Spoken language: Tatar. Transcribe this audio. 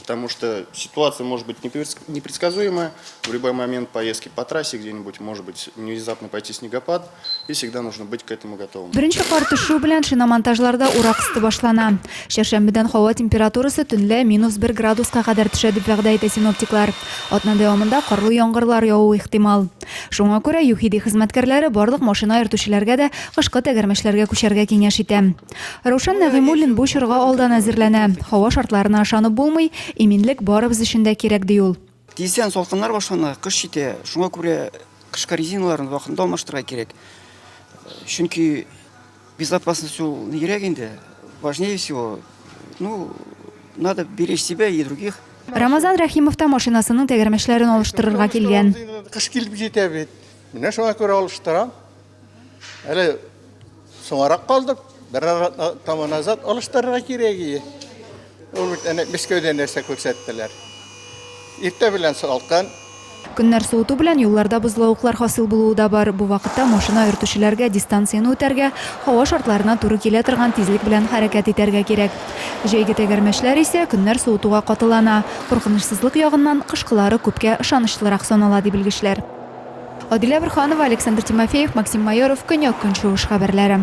Потому что ситуация может быть непредсказуемая. В любой момент поездки по трассе где-нибудь может быть внезапно пойти снегопад. И всегда нужно быть к этому готовым. Беренче кар төшү белән шиномонтажларда урак өсте башлана. Чәршәмбедән һава температурасы төнлә минус 1 градуска кадәр төшә дип вәгъдә итә синоптиклар. Атна дәвамында карлы яңгырлар явуы ихтимал. Шуңа күрә ЮХИДИ хезмәткәрләре барлык машина йөртүчеләргә дә кышкы тәгәрмәчләргә күчәргә киңәш итә. Раушан Нәгыймуллин бу чорга алдан әзерләнә. Һава шартларына ышанып булмый, иминлек барыбыз өчен дә кирәк, ди ул. Тиздән салкыннар башлана, кыш җитә. Шуңа күрә кышкы резиналарны вакытында алмаштырырга кирәк. Чөнки безопасность ул нигрәк инде, важнее всего. Ну, надо беречь себя и других. Рамазан Рәхимов та машинасының тәгәрмәчләрен алыштырырга килгән. Кыш килеп җитә бит. Менә шуңа күрә алыштырам. Әле соңарак калдык. Бер атна назад алыштырырга кирәк иде. Ул бит әнә Мәскәүдә нәрсә күрсәттеләр. Иртә белән салкын. Көннәр суыту белән юлларда бозлавыклар хасил булуы да бар. Бу вакытта машина йөртүчеләргә дистанцияне үтәргә, һава шартларына туры килә торган тизлек белән хәрәкәт итәргә кирәк. Җәйге тәгәрмәчләр исә көннәр суытуга катылана. Куркынычсызлык ягыннан, кышкылары күпкә ышанычлырак санала, ди белгечләр. Адилә Борһанова, Александр Тимофеев, Максим Майоров, Көньяк-Көнчыгыш хәбәрләре.